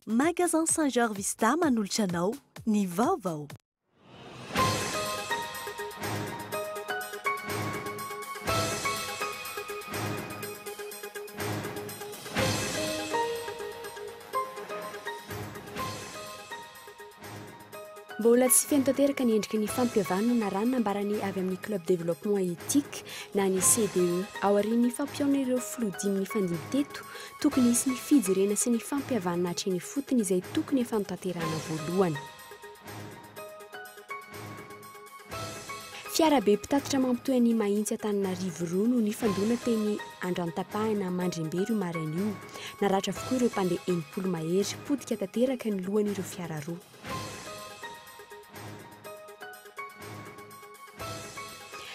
Magasin Saint Georges Vista manolotra anao ny vaovao. Mbola tsy feno tanteraka ny endriky ny fampihavanana raha ny nambaran'ny avy amin'ny Club Développement Éthique na ny CDE. Aorian'ny fampihaona ireo filoha dimy nifandimby teto, tokony hisy ny fijerena sy ny fampihavanana hatreny ifotony izay tokony efa notanterahana voalohany. Fiarabe mpitatitra mampitohy an'i Mahitsy Antananarivo roa no nifandona teny Andrantapahana Mandrembero io maraina io. Naratra avokoa ireo mpandeha enimpolo mahery. Potika tanteraka ny lohan'ireo fiara roa.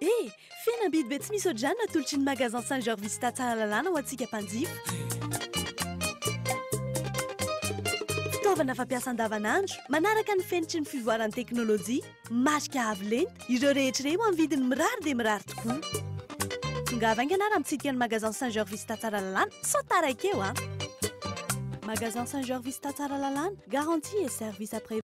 E! Fihenam-bidy be tsy misy ohatr'izany no atolotry ny Magasin Saint Georges Vista Tsaralalàna ho antsika mpanjifa. Fitaovana fampiasa andavanandro, manaraka ny fenitry ny fivoaran'ny teknolojia. Marika avo lenta, ireo rehetra ireo amin'ny vidiny mirary dia mirary tokoa. Tongava haingana ary mitsidika ny Magasin Saint Georges Vista Tsaralalàna sao taraiky eo an! Magasin Saint Georges Vista Tsaralalàna, garantie et service après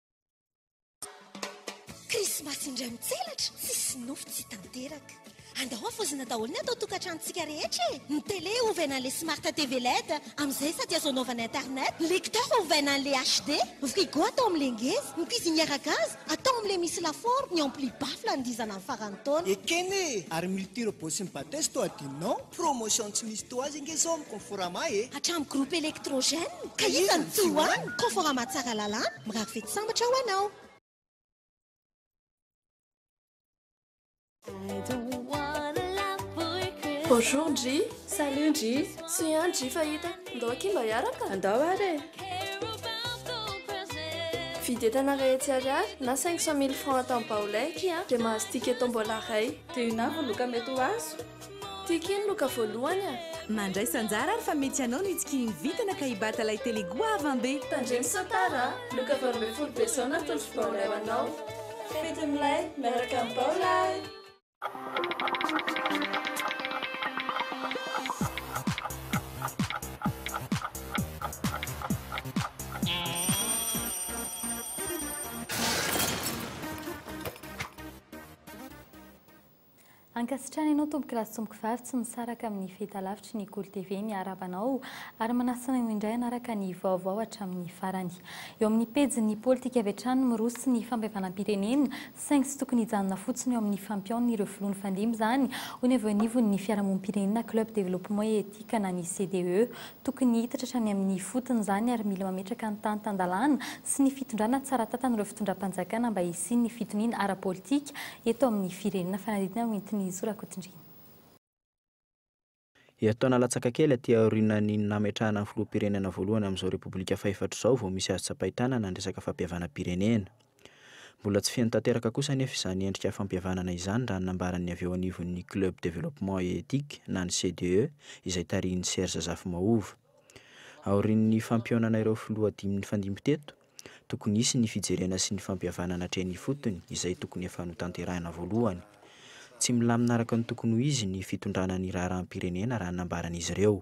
Krismasy indray mitselatra, tsisy nofy tsy tanteraka. Andao hafoizina daholo ny ato an-tokantranontsika rehetra e! Ny télé ovaina an'ilay smart TV led, amin'izay sady azo anaovana internet, ny lecteur ovaina an'ilay HD, ny frigo atao amin'ilay ngeza, ny cuisinière à gaz atao amin'ilay misy lafaoro, ny ampli baffle anodizana amin'ny faran'ny taona. Ekena e! Ary multi-robot sy ny batteuse toa adinonao? Promotion tsy misy toa azy ange zao amin'ny Conforama e! Hatramin'ny groupe Electrogène ka hita ny tohany! Conforama tsara lalàna, mirary fety sambatra ho anao! Bonjour ndry, salut ndry, soy an ndry fa hita, ndao akia mba hiaraka? Andao ary e! Vidy entana iray hetsy ariary na cinq cent mille francs atao amin'ny baolay akia dia mahazo ticket tombola iray. Dia inona avy ny loka mety ho azo? Ty kely no ka voalohany a! Mandraisa anjara ary fa mety ianao no hitsikihin'ny vintana ka hibata ilay tele goavam be! Tandremo sao tara a! Loka valo ambin'ny folo be zao natolotro baolay ho anao! Fety milay miaraka amin'ny baolay! Ankasitrahana anao tompokolahy sy tompokovavy tsy misaraka amin'ny fahitalavitry ny Kolo TV miarahaba anao ary manasa anao indray hanaraka ny vaovao hatramin'ny farany. Eo amin'ny pejin'ny politika avy hatrany ny miroso ny fampihavanam-pirenena saingy tsy tokony hijanona fotsiny eo amin'ny fampihaon'ireo filoha nifandimby izany hoy ny avy eo anivon'ny fiarahamonim-pirenena Club Développement et Éthique na ny CDE. Tokony hiditra hatrany amin'ny ifotony izany ary mila mametraka ny tany tan-dalàna sy ny fitondrana tsara tantan'ireo fitondram-panjakana mba hisian'ny fitoniana ara-politika eto amin'ny firenena, fanadihadiana noentin'i Zo Rakotondriana. Herintaona latsaka kely aty aorianan'ny nametrahana ny filoham-pirenena voalohany amin'izao Repoblika fahefatra izao vao misy azo tsapain-tanana ny resaka fampihavanam-pirenena. Mbola tsy feno tanteraka kosa anefa izany endrika fampihavanana izany raha ny nambaran'ny avy eo anivon'ny Club Développement et Éthique na ny CDE izay tarihin'i Serge Zafimahova. Aorian'ny fampihaonana ireo filoha dimy nifandimby teto, Tokony hisy ny fijerena sy ny fampihavanana hatreny ifotony izay tokony efa notanterahina voalohany. Tsy milamina araka ny tokony ho izy ny fitondrana ny raharaham-pirenena raha ny nambaran'izy ireo.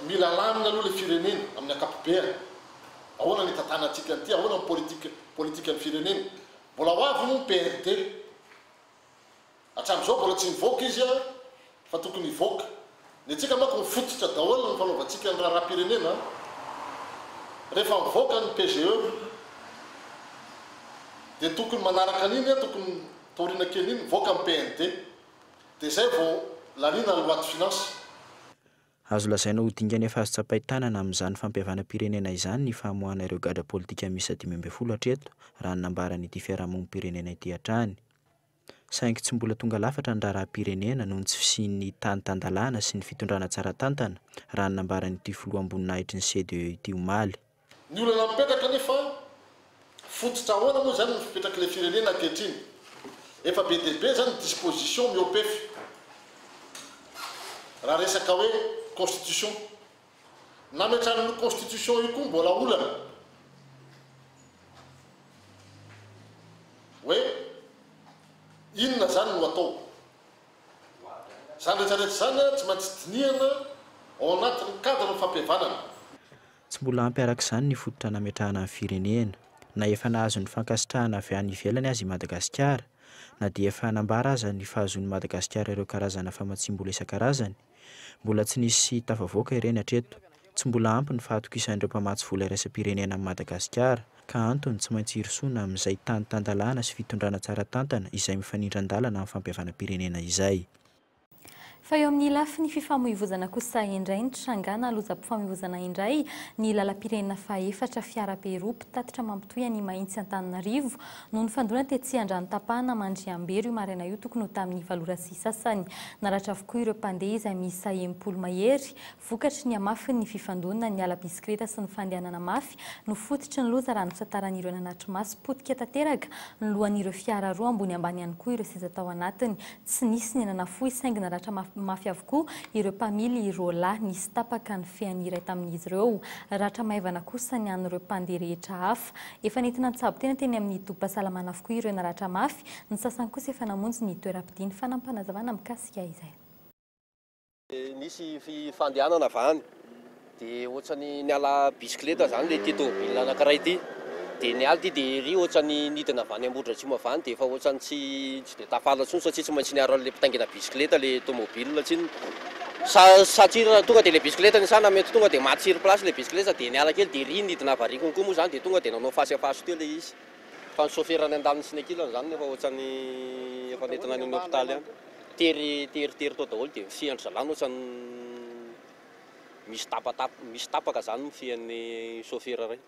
Mila lamina aloha ilay firenena amin'ny ankapobeany. Ahoana ny hitantanantsika an'ity? Ahoana ny politikan'ny firenena? Mbola ho avy moa ny PRD? Hatramin'izao mbola tsy nivoaka izy a! Fa tokony hivoaka. Ny antsika manko mifototra daholo ny fanaovantsika ny raharaham-pirenena a! Rehefa mivoaka ny PGE dia tokony manaraka an'iny a! Tokony taoriana kely iny mivoaka ny PND. Dia izay vao laniana ny loi de finances. Azo lazaina ho dingana efa azo tsapain-tanana amin'izany fampihavanam-pirenena izany ny famoahana ireo gadra politika miisa dimy ambin'ny folo hatreto, raha ny nambaran'ity fiarahamonim-pirenena ity hatrany. saingy tsy mbola tonga lafatra ny raharaham-pirenena noho ny tsy fisian'ny tany tan-dalàna sy ny fitondrana tsara tantana, raha ny nambaran'ity filoha am-boninahitry ny CDE ity omaly. Ny olana mipetraka anefa, fototra ahoana moa izany no fipetrak'ilay firenena ankehitriny? Efa be dia be izany ny dispositions mihoa-pefy raha resaka hoe constitution. Nametrany io constitution io koa mbola olana hoe inona zany no atao. Zany rehetra rehetra zany tsy maintsy dinihana ao anatin'ny cadre ny fampihavanana. Tsy mbola ampy araka izany ny fototra nametrahana ny firenena. Na efa nahazo ny fankasitrahana avy any ivelany aza i Madagasikara, na dia efa nambara aza ny fahazoan'i Madagasikara ireo karazana famatsiam-bola isan-karazany, Mbola tsy nisy tafavoaka ireny hatreto. Tsy mbola ampy ny fahatokisan'ireo mpamatsy vola iraisam-pirenena amin'i Madagasikara, ka antony tsy maintsy hirosoana amin'izay tany tan-dalàna sy fitondrana tsara tantana izay mifanindran-dalana amin'ny fampihavanam-pirenena izay. Fa eo amin'ny lafiny fifamoivozana kosa indray ny trangana lozam-pifamoivozana indray ny lalam-pirenena faha efatra fiarabe roa mpitatitra mampitohy an'i Mahitsy Antananarivo no nifandona tetsy Andrano-tapahana Mandriambero io maraina io tokony ho tamin'ny valo ora sy sasany. Naratra avokoa ireo mpandeha izay miisa enimpolo mahery. Vokatry ny hamafiny ny fifandonan'ny ala bisikileta sy ny fandehanana mafy no fototry ny loza raha ny fitantaran'ireo nanatri-maso. Potika tanteraka ny lohan'ireo fiara roa ambony ambany ihany koa ireo seza tao anatiny. Tsy nisy ny nanafohy saingy naratra mafy avokoa ireo mpamily rola. Nisy tapaka ny fean'ny iray tamin'izy ireo. Ratra maivana kosa ny an'ireo mpandeha rehetra hafa. Efa nentina nitsabo tena teny amin'ny tobim-pahasalamana avokoa ireo naratra mafy, ny sasany kosa efa namonjy ny toeram-pidiny. Fanampanazavana mikasika izay. Nisy fandehanana avy any dia ohatrany niala bisikileta izany ilay ity tomobil anakiray ity dia niala ity dia ery ohatrany nidina avy any Ambohidratrimo avy any dia efa ohatrany tsy Tsy dia tafala intsony satria tsy maintsy niaro an'ilay mpitaingina bisikileta ilay tomobil tsinona. Sa satria tonga dia ilay bisikileta nisana mety tonga dia maty sur place ilay bisikileta dia niala kely dia ery nidina variako koa moa izany dia tonga dia nanao face à face teo ilay izy fa ny sôfera any an-daniny sy ny ankilany izany no efa ohatran'ny efa nentina any amin'ny hôpitaly any. Tery tery tery tao daholo dia ny fian-dry zalahy no ohatran'ny misy tapatapa misy tapaka izany ny fian'ny sôfera iray.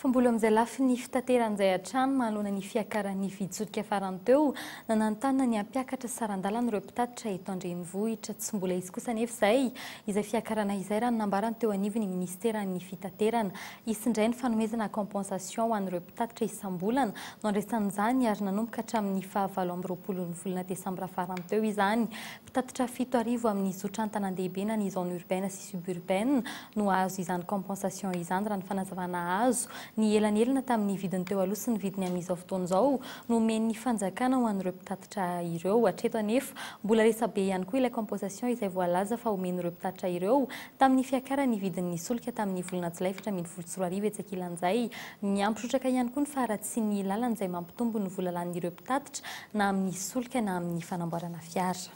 Fambolo amin'izay lafiny fitateran'izay hatrany manoloana ny fiakaran'ny vitsotsoka farany teo, nananontanona ny hampiakatra saran-dalana ireo mpitatitra eto an-drenivohitra. Tsy mbola hisy kosa anefa izay izay fiakarana izay raha ny nambarany teo anivon'ny minisiteran'ny fitaterana. Hisy indray ny fanomezana compensation ho an'ireo mpitatitra isam-bolana no handraisana izany ary nanomboka hatramin'ny fahavalo amby roapolon'ny volana desambra farany teo izany Tatitra fito arivo amin'ny zotra an-tanandehibe na ny zone urbaine sy suburbaine no hahazo izany compensation izany raha ny fanazavana azo. Ny elanelana tamin'ny vidiny teo aloha sy ny vidiny amin'izao fotoana izao no omen'ny fanjakana ho an'ireo mpitatitra ireo. Hatreto anefa mbola resabe ihany koa ilay compensation izay voalaza fa omen'ireo mpitatitra ireo tamin'ny fiakaran'ny vidin'ny solika tamin'ny volana jolay efatra ambin'ny folo sy roa arivo etsy ankilan'izay Niampy trotraka ihany koa ny faharatsian'ny lalana izay mampitombo ny vola lanin'ireo mpitatitra na amin'ny solika na amin'ny fanamboarana fiara.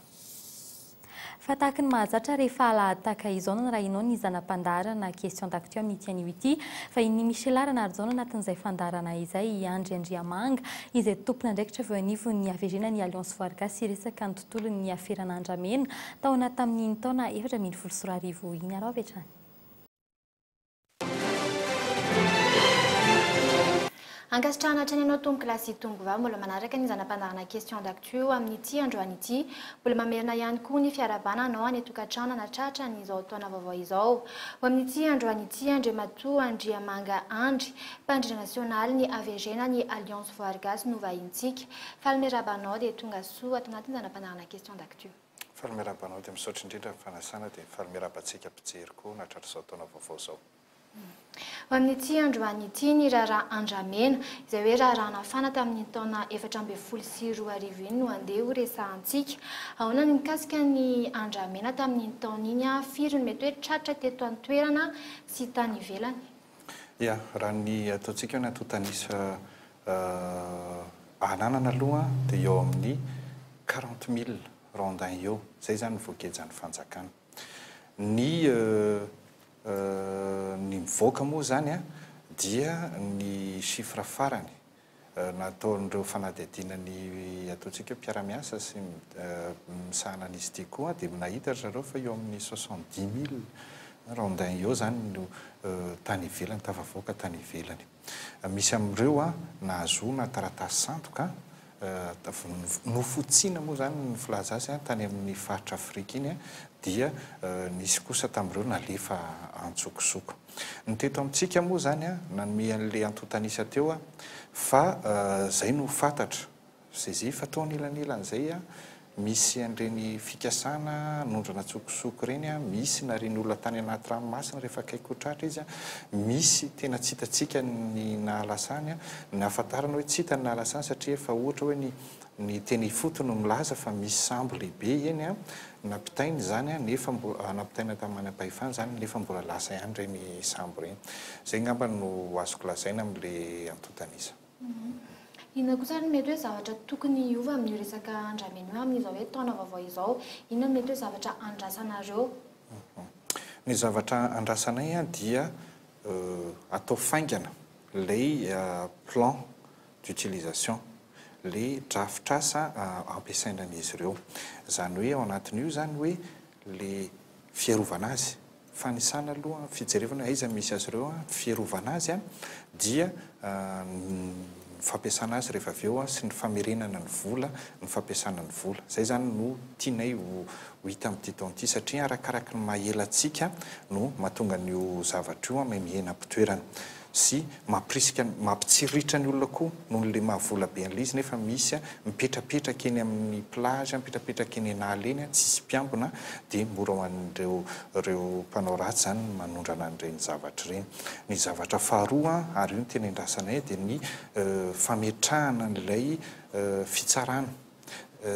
Fa tahaka ny mahazatra rehefa alahady tahaka izao no narahinao ny zana-pandaharana Question d'actu amin'ity anio ity. Vahinin'i Michela Ranarijaona anatin'izay fandaharana izay i Andry Andriamanga izay tompon'andraikitra avy eo anivon'ny haverena ny Alliance Voarigasy hiresaka ny tontolon'ny aferana andramena taona tamin'iny taona efatra ambin'ny folo sy roa arivo iny. Araho avy hatrany. Ankasitrahana hatrany ianao Tompo Glasy sy Tompo Vava mbola manaraka ny zana-pandaharana Questions d'Actu amin'ity androany ity. Mbola mamerina ihany koa ny fiarahabana anao any an-tokantrano hanatratra ny izao taona vaovao izao. Ho amin'ity androany ity, Andriamatoa Andriamanga Andry, Mpandrindra Nasionaly ny AVG na ny Alliance Voary Gasy no vahintsika. Faly miarahaba anao dia tonga soa ato anatin'ny zana-pandaharana Questions d'Actu. Faly miarahaba anao dia misaotra indrindra ny fanasana dia faly miarahaba antsika mpijery koa nahatratra izao taona vaovao izao. Ho amin'ity androany ity ny raharaha andramena, izay hoe raharaha nafana tamin'iny taona efatra ambin'ny folo sy roa arivo iny no andeha ho resahantsika. Ahoana ny mikasika ny andramena tamin'iny taona iny? Firy no mety hoe tratra teto an-toerana sy tany ivelany? Ia, raha ny ataontsika hoe ny antontan'isa ananana aloha dia eo amin'ny quarante mille rondins eo, izay izany ny voagejan'ny fanjakana. Ny ny mivoaka moa izany dia ny chiffre farany nataon'ireo fanadihadiana ny ataontsika hoe mpiara-miasa sy misahana an'izy ity koa dia nahita ry zareo fa eo amin'ny soixante dix mille rondins eo izany no tany ivelany, tafavoaka tany ivelany. Misy amin'ireo nahazoana taratasy sandoka, nofotsiana moa izany ny filaza azy tany amin'ny faritra Afrika iny dia nisy kosa tamin'ireo nalefa antsokosoko. Ny teto amintsika moa izany, nanome an'ilay antontan'isa teo aho fa izay no fantatra. Zay fa tao anelanelan'izay misy an'ireny fikasana hanondrana an-tsokosoko ireny, misy narian'ny olona tany anaty ranomasina rehefa akaiky ho tratra izy, misy tena tsy hitantsika ny nahalasa any, nahafantarana hoe tsy hita ny nahalasa any satria efa ohatra hoe ny Ny teny ifotony no milaza fa misy sambo lehibe eny an, nampitaina izany an, nefa mbola, nampitaina tamin'ny manampahefana izany nefa mbola lasa ihany ireny sambo ireny. Izay angamba no azoko lazaina amin'ilay antontan'isa. Inona kosa ary no mety hoe zavatra tokony hiova amin'io resaka andramena io amin'izao hoe taona vaovao izao? Inona no mety hoe zavatra andrasanareo? Ny zavatra andrasanay dia atao faingana ilay plan d'utilisation, le drafitr'asa ampiasaina an'izy ireo. Izany hoe ao anatin'io izany hoe le fiarovana azy, fanisana aloha, fijerevana aiza misy azy ireo, fiarovana azy dia ny fampiasana azy rehefa avy eo sy ny famerenana ny vola, ny fampiasana ny vola. Izay izany no tianay ho hita amin'ity taona ity satria arakaraky ny maha ela antsika no mahatonga an'io zavatra io miha mihena am-pitoerana. sy mampirisika ny mampitsiriritra ny olona koa noho ilay maha vola be an'ilay izy nefa misy mipetrapetraka eny amin'ny plage mipetrapetraka eny an'ala eny tsisy mpiambina dia mora ho an'ireo ireo mpanao ratsy izany ny manondrana an'ireny zavatra ireny ny zavatra faharoa ary io no tena iandrasanay dia ny fametrahana an'ilay fitsarana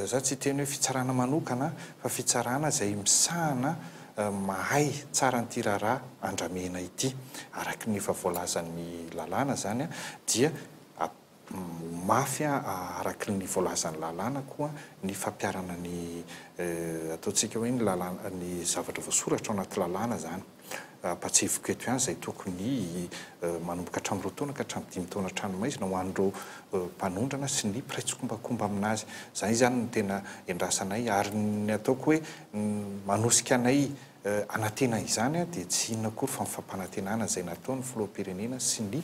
Za tsy hiteny hoe fitsarana manokana fa fitsarana izay misahana mahay tsara an'ity raharaha andramena ity. Araky ny efa voalazan'ny lalàna izany dia ho mafy araky ny voalazan'ny lalàna koa ny fampiharana ny ataontsika hoe ny lalàna, ny zavatra voasoratra ao anaty lalàna izany. Ampahatsiahiviko eto ihany izay tokony manomboka hatramin'ny roa taona ka hatramin'ny dimy taona hatrany maizina ho an'ireo mpanondrana sy ny mpiray tsikombakomba amin'azy. Izany izany no tena iandrasanay ary ny ataoko hoe manosika anay hanantena izany dia tsy inona akory fa ny fampanantenana izay nataon'ny filoham-pirenena sy ny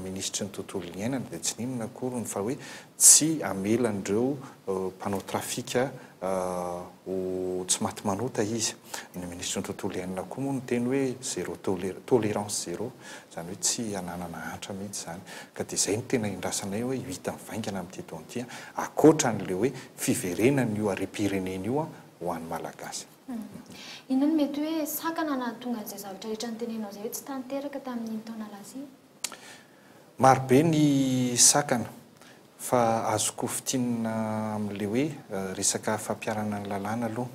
minisitry ny tontolo iainana dia tsy inona akory fa hoe Tsy hamela an'ireo mpanao trafika ho tsy maty manota izy. Ny minisitry ny tontolo iainana koa moa niteny hoe zero tolera, tolérance zero, izany hoe tsy hananana hantra mihitsy izany. Ka dia izay no tena iandrasanay hoe io hita mivaingana amin'ity taona ity, ankoatra an'ilay hoe fiverenan'io harem-pirenena io ho an'ny Malagasy. Inona no mety hoe sakana nahatonga an'izay zavatra rehetra notenenao izay hoe tsy tanteraka tamin'iny taona lasa iny? Maro be ny sakana fa azoko fintinina amin'ilay hoe resaka fampiharana ny lalàna aloha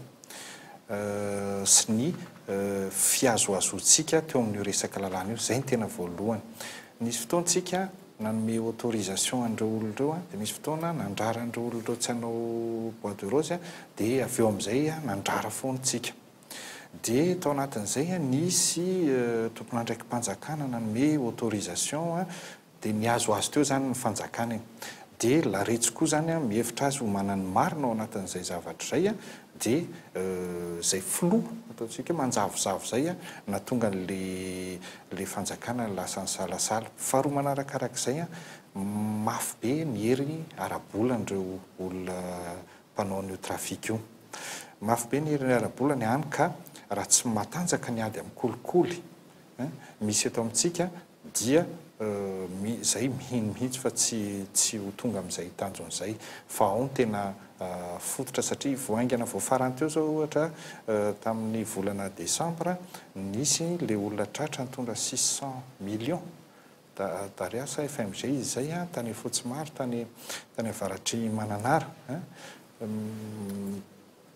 sy ny fihazohazoantsika teo amin'io resaka lalàna io. Izay no tena voalohany. Nisy fotoana isika nanome autorisation an'ireo olona ireo dia nisy fotoana nandrara an'ireo olona ireo tsy hanao bois de rose dia avy eo amin'izay nandrara foana isika. Dia tao anatin'izay nisy tompon'andraiki-panjakana nanome autorisation dia nihazo azy teo izany ny fanjakana e. Dia laretsy koa izany mihevitra azy ho manan'ny marina ao anatin'izay zavatra izay dia izay filoha ataontsika hoe manjavozavo izay nahatonga an'ilay fanjakana lasa nisalasala. Faharoa manarakarak'izay mafy be ny hery ara-bolan'ireo olona mpanao an'io trafic io. Mafy be ny herin'ny ara-bola ny any ka raha tsy matanjaka ny ady amin'ny kolikoly misy eto amintsika dia izay mihino mihitsy fa tsy tsy ho tonga amin'izay tanjona izay fa ao no tena fototra satria vao haingana vao farany teo izao ohatra tamin'ny volana desambra nisy ilay olona tratra nitondra six cent millions Darea sa FMG izy izay an, tany Afotsymaro, tany tany avaratr'i Mananara an,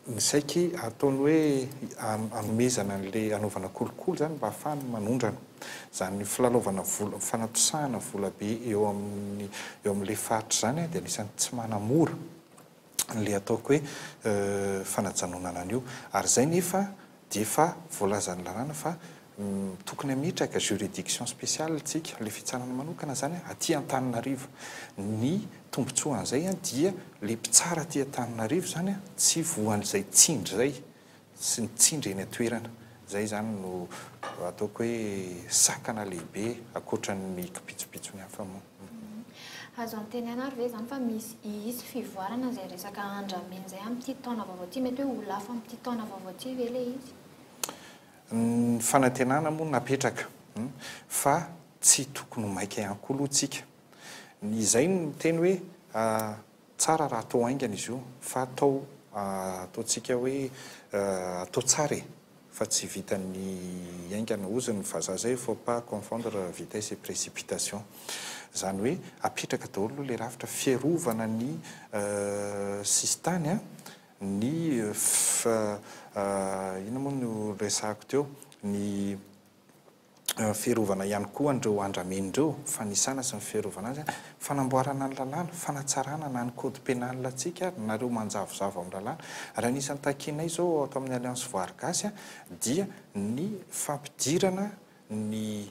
ny saiky ataony hoe hanomezana an'ilay hanaovana kolikoly izany mba hahafahany manondrana izany filalaovana vola, fanatosahana volabe eo amin'ny eo amin'ilay faritra izany dia anisan'ny tsy manamora. le ataoko hoe fanajanonana an'io ary zay nefa dia efa voalazan'ny lalàna fa tokony hametraka juridiction spéciale tsika le fitsarana manokana zany a aty Antananarivo ny tombotsoan'zay dia le mpitsara aty Antananarivo zany a tsy voan'zay tsindry zay sy ny tsindry eny an-toerana. Izay izany no ataoko hoe sakana lehibe ankoatra ny kipitsopitsony hafa moa. Azo antenaina ary ve izany fa misy hisy fivoarana izay resaka andramena izay amin'ity taona vaovao ity? Mety hoe ho lafo amin'ity taona vaovao ity ve ilay izy? Ny fanantenana moa napetraka fa tsy tokony ho maika ihany koa aloha isika. Izay no miteny hoe. Tsara raha atao haingana izy io fa atao ataontsika hoe atao tsara e! fa tsy vitan'ny haingana, hozy ny vazaha zay faut pas confondre vitesse et précipitation zany hoe apetraka daholo aloha le rafitra fiarovana ny sisintany a, ny inona moa no resahako teo ny. fiarovana ihany koa an'ireo andramena ireo, fanisana sy ny fiarovana azy, fanamboarana ny lalàna, fanatsarana na ny code pénal antsika ary nareo manjavozavo amin'ny lalàna. Ary anisan'ny takianay izao ato amin'ny Alliance Voary Gasy dia ny fampidirana ny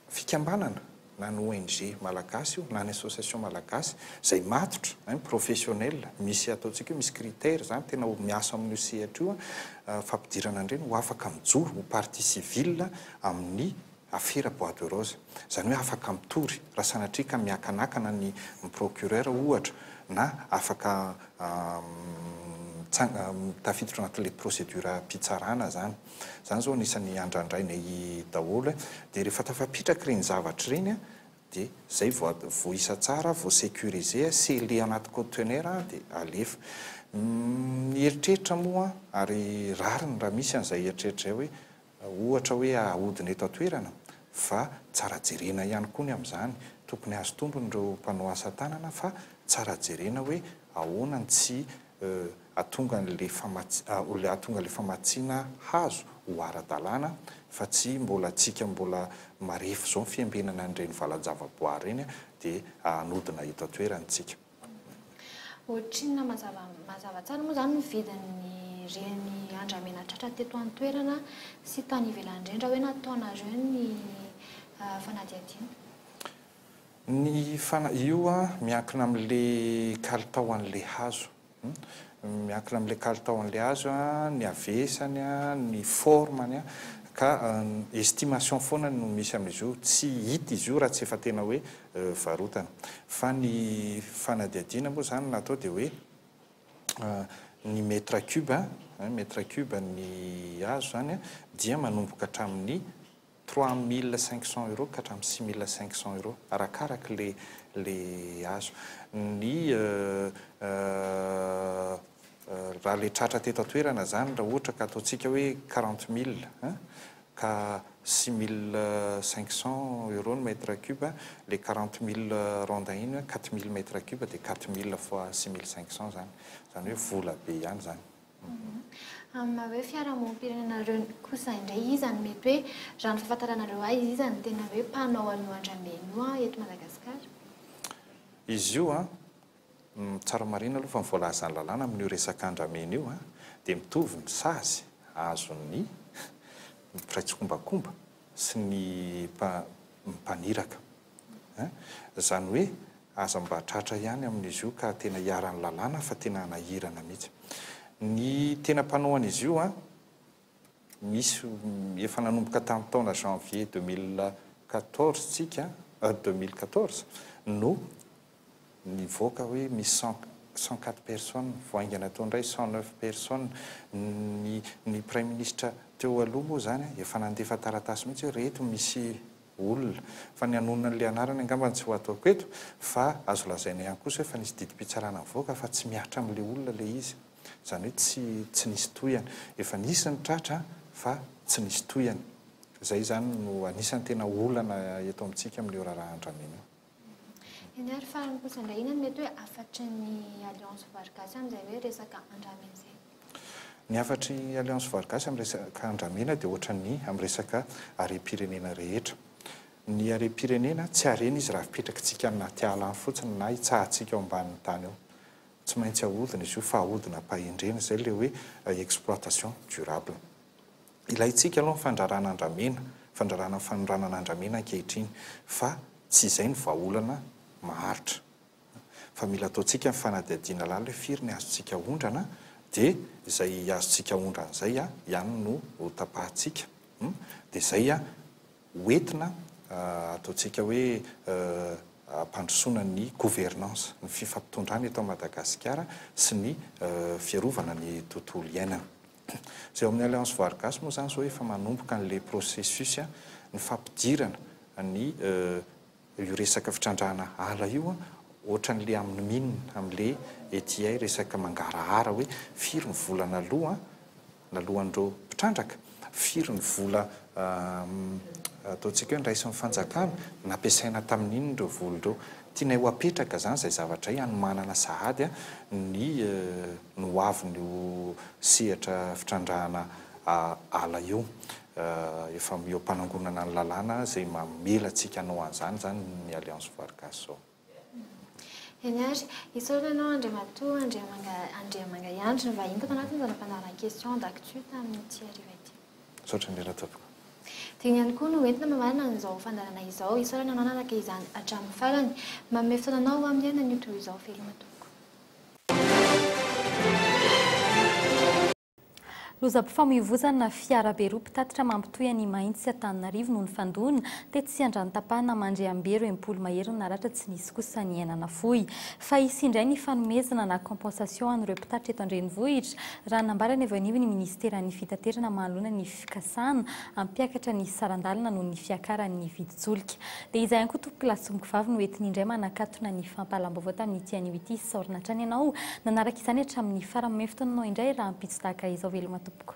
fikambanana. na ny ONG malagasy io na ny association malagasy izay matotra hein professionnel misy ataontsika hoe misy critère izany tena miasa amin'io sehatra io fampidirana an'ireny ho afaka mijoro ho partie civile amin'ny afera bois de rose izany hoe afaka mitory raha sanatria ka miakanakana ny procureur ohatra na afaka mitsanga tafiditra anatin'ilay procédure mpitsarana izany. Izany izao anisan'ny andrandrainay daholo e. Dia rehefa tafapitraka ireny zavatra ireny an, dia izay vao at, voaisa tsara, voasecuriser, sceller anaty conteneur dia alefa. Ny eritreritra moa an, ary rariny raha misy an'izay eritreritra izay hoe ohatra hoe ahodina eto an-toerana, fa tsara jerena ihany koa ny amin'izany. Tokony hahazo tombony ireo mpanao asa tanana fa tsara jerena hoe ahoana ny tsy. hahatonga an'ilay hahatonga ilay famatsiana hazo ho ara-dalàna fa tsy mbola antsika mbola marefo izao ny fiambenana an'ireny valan-javaboary ireny dia hanodina eto an-toerana isika. Ohatrinona mazava mazava tsara moa izany ny vidin'ireny andramena tratra teto an-toerana sy tany ivelany ireny raha hoe nataonareo ny fanadihadiana? Ny fana io miankina amin'le kalitao an'le hazo miankina amin'le kalitao an'le hazo ny havesany ny forme-ny ka estimation foana no misy amin'izy io tsy hita izy io raha tsy efa tena hoe varotana fa ny fanadihadiana moa zany natao dia hoe ny metre cube metre cube ny hazo zany dia manomboka hatramin'ny Trois mille cinq cents euros ka hatramin'ny six mille cinq cents euros arakaraka ilay ilay azo. Ny raha ilay tratra teto an-toerana izany raha ohatra ka ataontsika hoe quarante mille an, ka six mille cinq cents euros ny mètre cube an, ilay quarante mille rondins iny hoe quatre mille mètre cube dia quatre mille fois six mille cinq cents izany. Izany hoe vola be ihany izany. Amin'ny maha hoe fiarahamonim-pirenenareo kosa indray iza no mety hoe, raha ny fahafantaranareo ahy, iza no tena hoe mpanao an'io andramena io eto Madagasikara? Izy io an, tsara marihina aloha fa ny voalazan'ny lalàna amin'io resaka andramena io an, dia mitovy ny sazy azon'ny mpiray tsikombakomba sy ny mpaniraka. Hein? Izany hoe aza mba tratra ihany amin'izy io ka tena iharan'ny lalàna fa tena hanahirana mihitsy ny tena mpanao an'izy io an! Misy efa nanomboka tamin'ny taona janvier deux mille quatorze tsika an! Deux mille quatorze no Nivoaka hoe misy cent cent quatre personnes vao haingana teo indray cent neuf personnes. Ny ny praiminisitra teo aloha moa izany efa nandefa taratasy mihitsy hoe ry eto misy olona. Fa ny hanonona an'ilay anarany angamba no tsy ho ataoko eto fa azo lazaina ihany kosa hoe efa nisy didim-pitsarana nivoaka fa tsy mihatra amin'ilay olona ilay izy. Izany hoe tsy tsy nisy tohihana. Efa nisy ny tratra fa tsy nisy tohihana. Izay izany no anisan'ny tena olana eto amintsika amin'io raharahan-dramena io. Eny ary farany kosa indray inona no mety hoe hafatry ny Alliance Vary Gasy amin'izay hoe resaka andramena izay? Ny hafatry ny Alliance Vary Gasy amin'ny resaka andramena dia ohatran'ny amin'ny resaka harem-pirenena rehetra. Ny harem-pirenena tsy harena izy raha fipetrakitsika any anaty ala any fotsiny na itsahantsika ao ambanin'ny tany ao. Tsy maintsy ahodina izy io fa ahodinam-pahendrena, izay ilay hoe exploitation durable. Ilaintsika aloha ny fandrarana andramena, fandrarana ny fanoranana andramena ankehitriny fa tsy izay ny vahaolana maharitra. Fa mila ataontsika ny fanadihadiana lalina hoe firy ny azontsika aondrana dia izay azontsika aondrana izay ihany no ho tapahintsika. Dia izay ho entina ataontsika hoe hampandrosoana ny gouvernance, ny fifampitondràna eto Madagasikara sy ny fiarovana ny tontolo iainana. Izay ao amin'ny Alliance Vargas moa izany izao efa manomboka an'ilay processus ny fampidirana ny io resaka fitrandrahana ala io ohatran'ilay amin'ny mine amin'ilay ety hay resaka mangarahara hoe firy ny vola naloa naloan'ireo mpitrandraka, firy ny vola ataontsika hoe niraisin'ny fanjakana, nampiasaina tamin'inona ireo vola ireo. Tianay ho apetraka izany izay zavatra izay hanomanana sahady ny ny ho avin'io sehatra fitrandrahana ala io. Efa eo am-panangonana ny lalàna izay mamela antsika hanao an'izany izany ny Alliance Vargas izao. Eny ary. Isaorana anao Andriamatoa Andriamanga Andriamangahiandry nivahiny tato anatin'izany fandaharan-question d'actu tamin'ity hariva ity. Misaotra indrindra tompoko. Tiany ihany koa no entina mamarana an'izao fandaharana izao. Isaorana anao nanaraka izany hatramin'ny farany. Manome fotoana anao aho miaina an'io tohio izao veloma tompoko. Lozam-pifamoivoizana, Fiarabe roa mpitatitra mampitohy an'i Imahiny sy Antananarivo no nifandona, tetsy Andranotapahana Mandriambero, Empolo mahery no naratra, tsy nisy kosa ny aina nafoy. fa hisy indray ny fanomezana na compensation ho an'ireo mpitatitra eto an-drenivohitra, raha nambarany avy anio ny minisiteran'ny fitaterana manoloana ny fikasana hampiakatra ny saran-dalana noho ny fiakaran'ny vidin-tsolika. Dia izahay koa tompokolahy sy tompokovavy no entiny indray manakatona ny fampahalam-baovao tamin'ity anio ity, isaorana hatrany ianao nanaraka izany hatramin'ny farany, omeo fotoananao indray rahampitso tahaka izao, veloma tompoko.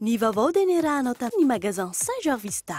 Ny vaovao dia niarahanao tamin'ny Magasin Saint Jarvista.